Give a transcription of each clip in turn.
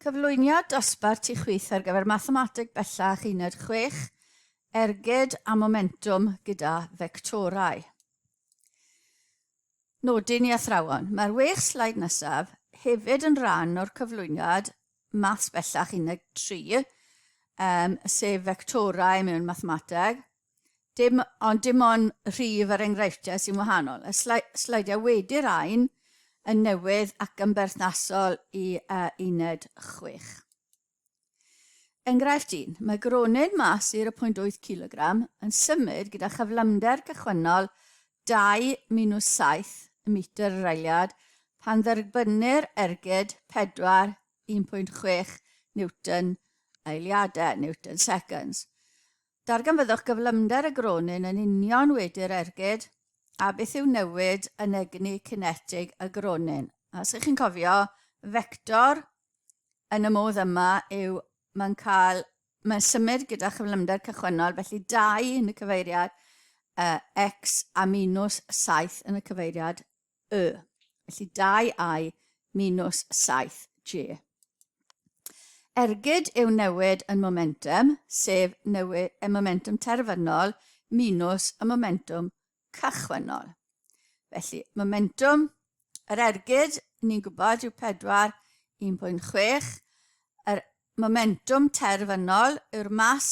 Cyflwyniad dosbarth ti chwith ar gyfer Mathemateg Bellach Uned 6, Ergyd a Momentwm gyda fectorau. Nodyn i athrawon. Mae'r wech slaid nesaf hefyd yn rhan o'r cyflwyniad Maths Bellach Uned 3, um, sef fectorau mewn mathemateg, Dim, ond dim ond rhif yr enghreifftiau sy'n wahanol. Y sleidiau wedi rhain yn newydd ac yn berthnasol i uh, uned 6. Enghraifft 1. Mae gronyn mas i'r 0.8 kg yn symud gyda chyflymder cychwynnol 2 minus 7 metr yr eiliad pan dderbynnir ergyd 4 1.6 Newton eiliadau, Newton seconds. Darganfyddwch gyflymder y gronyn yn union wedi'r ergyd a beth yw newid yn egni cinetig y gronyn. Os ych chi'n cofio, fector yn y modd yma yw mae'n cael, mae'n symud gyda chyflymder cychwynnol, felly 2 yn y cyfeiriad uh, x a minus 7 yn y cyfeiriad y. Felly 2i minus 7j. Ergyd yw newid yn momentum, sef newid y momentum terfynol minus y momentum cychwynnol. Felly, momentum yr ergyd, ni'n gwybod, yw 4, 1.6. Yr momentum terfynol yw'r mas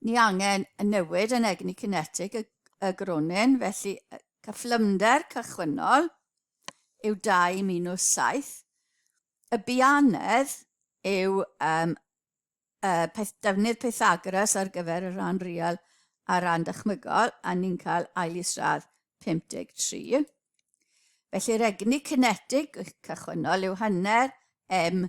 Ni angen y newid yn egni cinetig y, y gronyn, felly y cyflymder cychwynnol yw 2 minus 7. Y bianedd yw um, y peth, defnydd Pythagoras ar gyfer y rhan real a rhan dychmygol, a ni'n cael ail isradd 53. Felly'r egni cinetig cychwynnol yw hanner m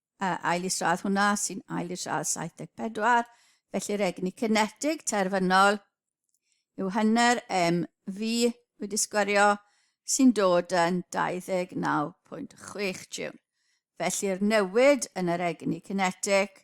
uh, ail isradd hwnna sy'n ail isradd 74, felly'r egni cinetig terfynol yw hynny'r MV wedi sgwario sy'n dod yn 29.6 jiwn. Felly'r newid yn yr egni cinetig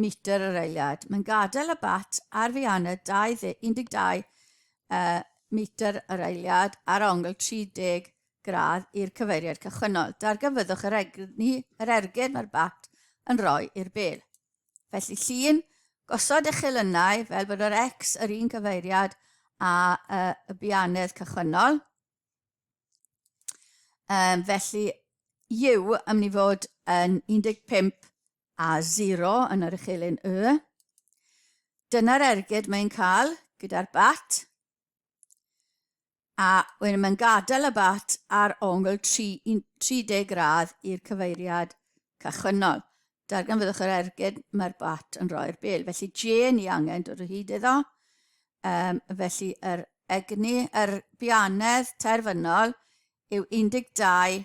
metr yr eiliad. Mae'n gadael y bat ar Fianna 12 uh, metr yr eiliad ar ongl 30 gradd i'r cyfeiriad cychwynnol. Darganfyddwch yr egni, yr ergyd mae'r bat yn rhoi i'r bel. Felly llun, gosod eich elynau fel bod yr X yr un cyfeiriad a uh, y bianedd cychwynnol. Um, felly, yw yn mynd i fod yn 15 A 0 yn yr uchelyn Y. Dyna'r ergyd mae'n cael gyda'r bat. A wedyn mae'n gadael y bat ar ongl 30 gradd i'r cyfeiriad cychwynnol. Darganfyddwch yr ergyd mae'r bat yn rhoi'r bel. Felly J ni angen dod o hyd iddo. Um, felly yr egni, yr bianedd terfynol yw 12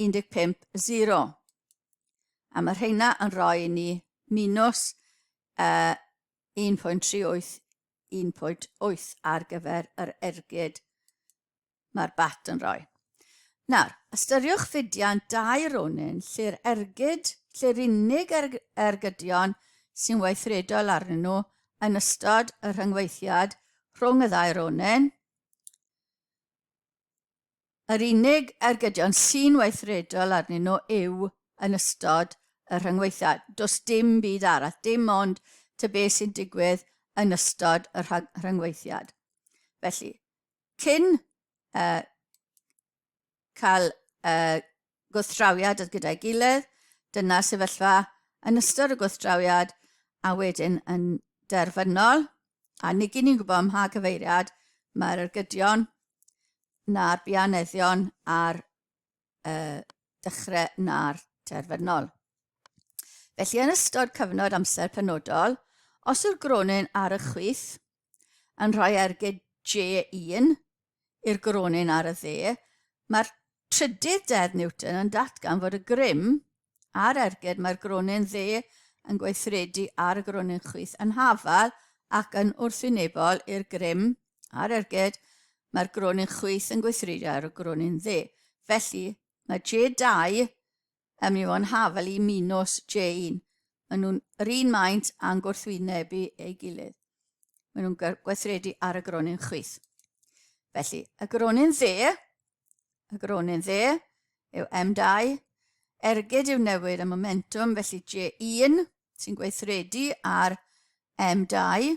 15.0. A mae rheina yn rhoi ni minus uh, 1.38 1.8 ar gyfer yr ergyd mae'r bat yn rhoi. Nawr, ystyriwch fudian dau ronin lle'r ergyd, lle'r unig er, ergydion sy'n weithredol arnyn nhw yn ystod y rhyngweithiad rhwng y ddau ronin Yr unig ergydion sy'n weithredol arnyn nhw yw yn ystod y rhyngweithiau. Does dim byd arall, dim ond tŷ beth sy'n digwydd yn ystod y rhyngweithiad. Felly, cyn uh, cael uh, gwrthdrawiad gyda'i gilydd, dyna'r sefyllfa yn ystod y gwrthdrawiad a wedyn yn derfynol, a nid ni'n gwybod ym mha gyfeiriad mae'r ergydion na'r bianeddion a'r uh, dechrau na'r terfynol. Felly yn ystod cyfnod amser penodol, os yw'r gronyn ar y chwith, yn rhoi ergyd J1 i'r gronyn ar y dde, mae'r trydydd deddf Newton yn datgan fod y grym a'r ergyd mae'r gronyn dde yn gweithredu ar y gronyn chwith yn hafal ac yn wrthwynebol i'r grym a'r ergyd mae'r gronyn chwith yn gweithredu ar y gronyn dde. Felly, mae J2 A mi o'n hafel i Minos Jane. Maen nhw'n yr un maint a'n gwrthwynebu ei gilydd. Maen nhw'n gweithredu ar y gronyn chwith. Felly, y gronyn dde, y gronyn dde yw M2, ergyd yw newid y momentum, felly J1 sy'n gweithredu ar M2,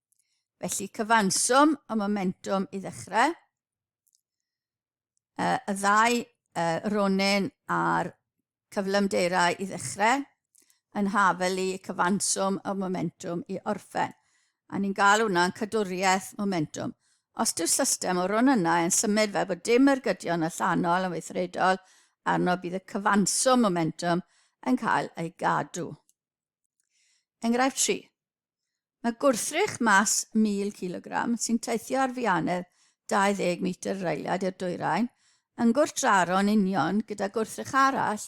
Felly cyfanswm y momentum i ddechrau. Uh, y ddau uh, ronin a'r cyflymdeirau i ddechrau yn hafelu cyfanswm y momentum i orffen. A ni'n gael hwnna'n cadwriaeth momentum. Os yw'r system o ron yna yn symud fel bod dim ergydion allanol yn weithredol arno bydd y cyfanswm momentum yn cael ei gadw. Enghraifft 3. Mae gwrthrych mas 1000 kg sy'n teithio ar fianedd 20 metr reiliad i'r dwyrain yn gwrthdraro'n union gyda gwrthrych arall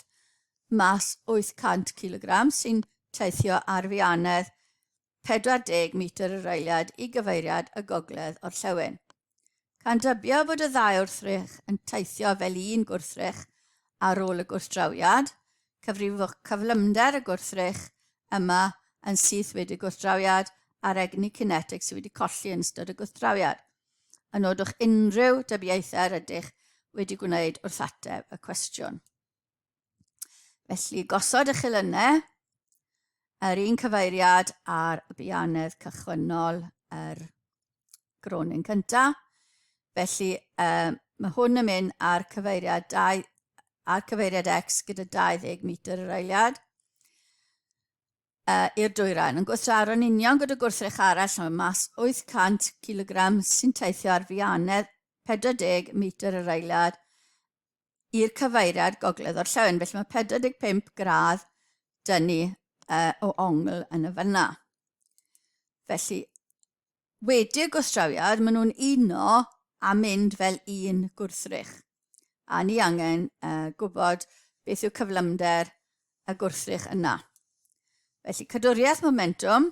mas 800 kg sy'n teithio ar fianedd 40 metr y reiliad i gyfeiriad y gogledd orllewin. Ca'n dybio fod y ddau wrthrych yn teithio fel un gwrthrych ar ôl y gwrthdrawiad, cyfrifwch cyflymder y gwrthrych yma yn syth wedi y gwrthdrawiad a'r egni cinetig sydd wedi colli yn ystod y gwrthdrawiad. Yn nodwch unrhyw dybiaethau yr ydych wedi gwneud wrth ateb y cwestiwn. Felly, gosod y chilynau, yr un cyfeiriad ar y bianedd cychwynnol yr gronin cynta. Felly, um, mae hwn yn mynd ar cyfeiriad, dau, ar cyfeiriad X gyda 20 metr yr eiliad uh, i'r dwyrain. Yn gwrthsaro'n union gyda gwrthrych arall mae mas 800 kg sy'n teithio ar fianedd 40 metr yr eiliad i'r cyfeiriad gogledd-orllewin. Felly mae 45 gradd dyn ni uh, o ongl yn y fyna. Felly, wedi'r gwstrawiad, maen nhw'n uno a mynd fel un gwrthrych. A ni angen uh, gwybod beth yw cyflymder y gwrthrych yna. Felly, cadwriaeth momentum,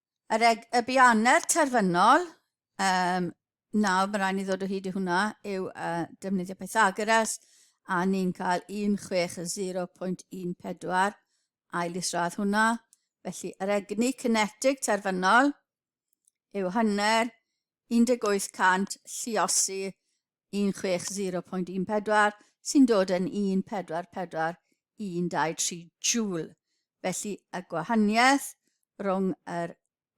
Yr eg, y bianer terfynol, um, nawr mae rhaid ni ddod o hyd i hwnna, yw uh, defnyddio Pythagoras, a ni'n cael 16.14 ail isradd hwnna. Felly, yr egni cinetig terfynol yw hynny'r 1800 lliosi 160.14 sy'n dod yn 1441223 joule. Felly y gwahaniaeth rhwng yr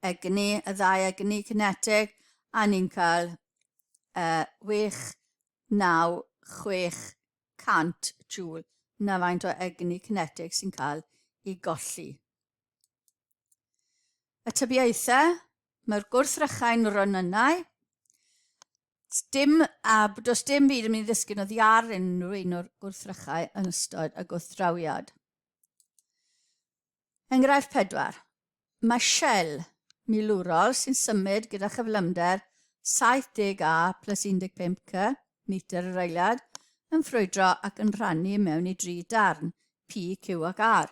egni, y ddau egni cinetig, a ni'n cael uh, 69600 joule na faint o egni cinetig sy'n cael ei golli. Y tybiaethau, mae'r gwrthrychau'n ronynnau, dim, a does dim byd yn mynd i ddysgu na ddiar unrhyw un o'r gwrthrychau yn ystod y gwrthdrawiad. Enghraifft pedwar. Mae Shell milwrol sy'n symud gyda chyflymder 70 A plus 15 C metr yr eiliad yn ffrwydro ac yn rhannu mewn i dri darn, P, Q ac R.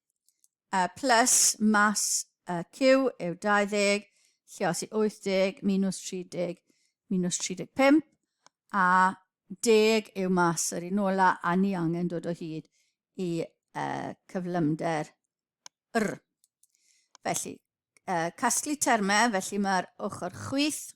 y plus mas y Q yw 20, lle os i 80 minus 30 minus 35, a deg yw mas yr un ola, a ni angen dod o hyd i uh, cyflymder R. Felly, uh, casglu termau, felly mae'r ochr chwith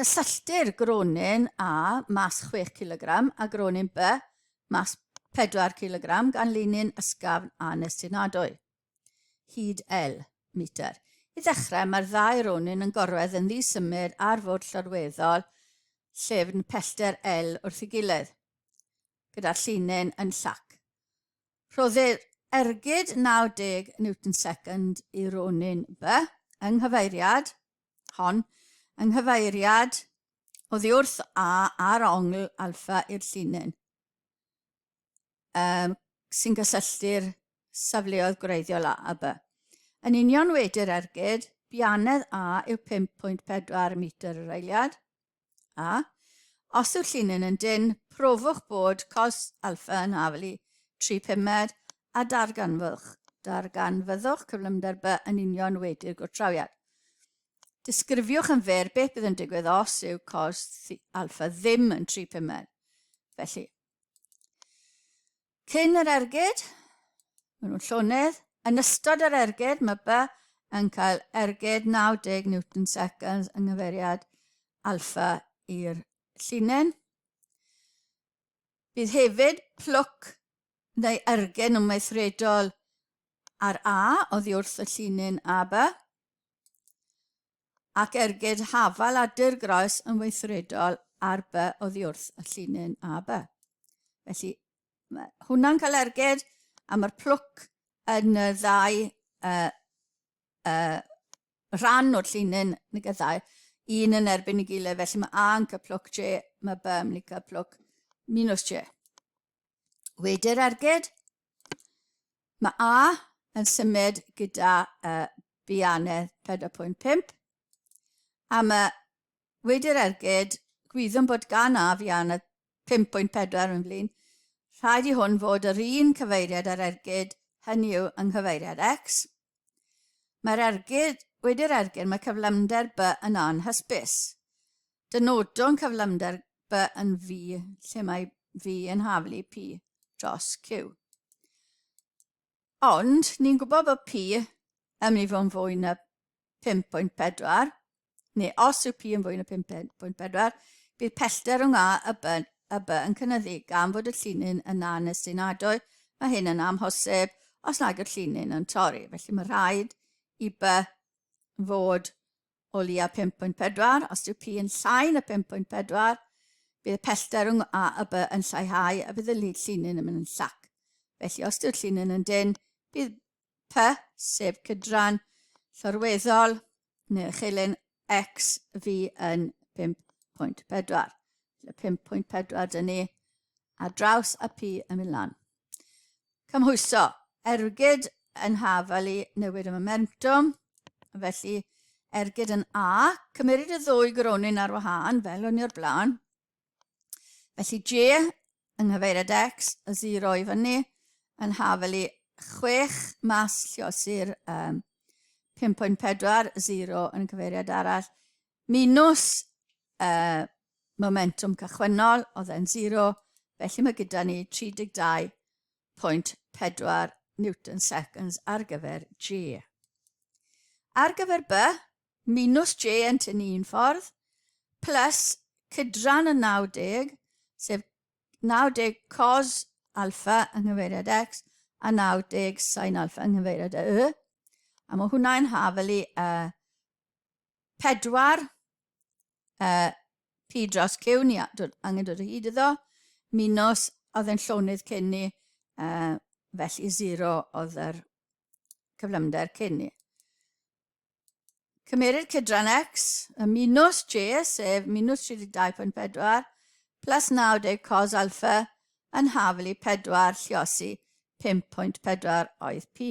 Cysylltir gronyn A mas 6 cilogram a gronyn B mas 4 cilogram gan linyn ysgafn a nestunadwy. Hyd L metr. I ddechrau, mae'r ddau ronyn yn gorwedd yn ddisymud ar fwrdd llorweddol llefn pellter L wrth ei gilydd, gyda'r llinyn yn llac. Rhoddir ergyd 90 newton second i ronyn B yng nghyfeiriad hon, yng nghyfeiriad oddi wrth A a'r ongl alfa i'r llinyn, um, sy'n gysylltu'r safleoedd gwreiddiol A a B. Yn union wedi'r ergyd, bianedd A yw 5.4 metr yr eiliad, A, os yw'r llinyn yn dynn, profwch bod cos alfa yn haflu tri pumed a darganfwch, darganfyddwch cyflymder by yn union wedi'r gwrthdrawiad. Disgrifiwch yn fer beth bydd yn digwydd os yw cos alfa ddim yn tri pumed. Felly, Cyn yr ergyd, maen nhw'n llonydd. Yn ystod yr ergyd, mae By yn cael ergyd 90 newton seconds yng nghyfeiriad alfa i'r llinyn. Bydd hefyd plwc neu ergyd yn weithredol ar A oddi wrth y llinyn AB. ac ergyd hafal a dirgroes yn weithredol ar by oddiwrth y llinyn a by. Felly, mae hwnna'n cael ergyd, a mae'r plwc yn y ddau uh, uh, rhan o'r llinyn yn y gyddau, un yn erbyn y gilydd, felly mae A yn cael plwc J, mae B yn cael plwc minus J. Wedi'r ergyd, mae A yn symud gyda uh, bianedd 4.5 a mae wedi'r ergyd gwyddwn bod gan A fianedd 5.4 yn flin. Rhaid i hwn fod yr un cyfeiriad ar ergyd, hynny yw yng nghyfeiriad X. Mae'r ergyd, wedi'r ergyd, mae cyflymder B yn anhysbys. Dynodwn cyflymder by yn V lle mae V yn haflu P dros Q. Ond ni'n gwybod bod P yn mynd i fod yn fwy na 5.4, neu os yw P yn fwy na 5.4, bydd pellter rhwng A a B, a B yn cynnyddu gan fod y llinyn yn na nes sy'n adwy. Mae hyn yn amhosib os nad yw'r llinyn yn torri, felly mae rhaid i B fod o leia 5.4, os yw P yn llai na 5.4, bydd y pellter rhwng A a B yn lleihau a bydd y llinyn yn mynd yn llac. Felly, os yw'r llinyn yn dyn, bydd P, sef cydran llorweddol neu'r chilyn X fi yn 5.4. Felly 5.4 dyn ni a draws a P yn mynd lan. Cymhwyso. Ergyd yn haf ali newid y momentum. Felly, ergyd yn A, cymeryd y ddwy gronyn ar wahân, fel o'n i o'r blaen. Felly J yng nghyfeiriad X, y 0 i fyny, yn haf ali 6 mas lliosi'r um, 5.40 yn cyfeiriad arall, Minus y momentwm cychwynnol, oedd e'n zero, felly mae gyda ni 32.4 newton seconds ar gyfer J. Ar gyfer B, minus J yn tynnu un ffordd, plus cydran y 90, sef 90 cos alfa yng nghyfeiriad x a 90 sin alfa yng nghyfeiriad y y. A mae hwnna'n hafelu y 4, y P dros Q, ni dod, angen dod o hyd iddo, minus, oedd e'n llonydd cyn ni, uh, felly 0 oedd yr cyflymder cyn ni. Cymerid cydran x, y minus j, sef minus 32.4, plus 90 cos alfa, yn haflu 4 lliosi 5.4 oedd p.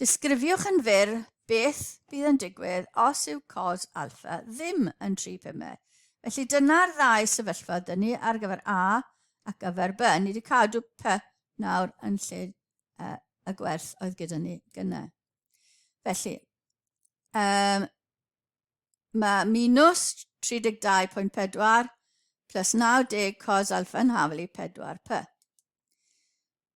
Disgrifiwch yn fyr beth bydd yn digwydd os yw cos alfa ddim yn 3 pymau. Felly dyna'r ddau sefyllfa dyn ni ar gyfer A ac gyfer B. Ni wedi cadw P nawr yn lle uh, y gwerth oedd gyda ni gyna. Felly, um, mae minus 32.4 plus 90 cos alfa yn haflu 4p.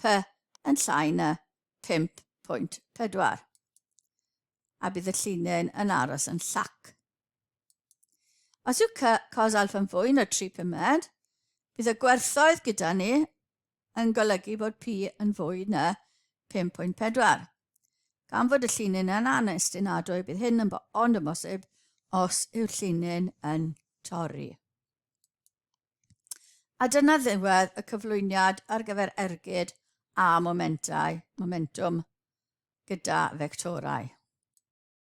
Py yn llai na 5.4 a bydd y llinyn yn aros yn llac. Os yw Cy cos alfa yn fwy na 3 pumed, bydd y gwerthoedd gyda ni yn golygu bod P yn fwy na 5.4. Gan fod y llinyn yn anestinadwy, bydd hyn yn ond yn bosib os yw'r llinyn yn torri. A dyna ddiwedd y cyflwyniad ar gyfer ergyd a momentau, momentum gyda fectorau.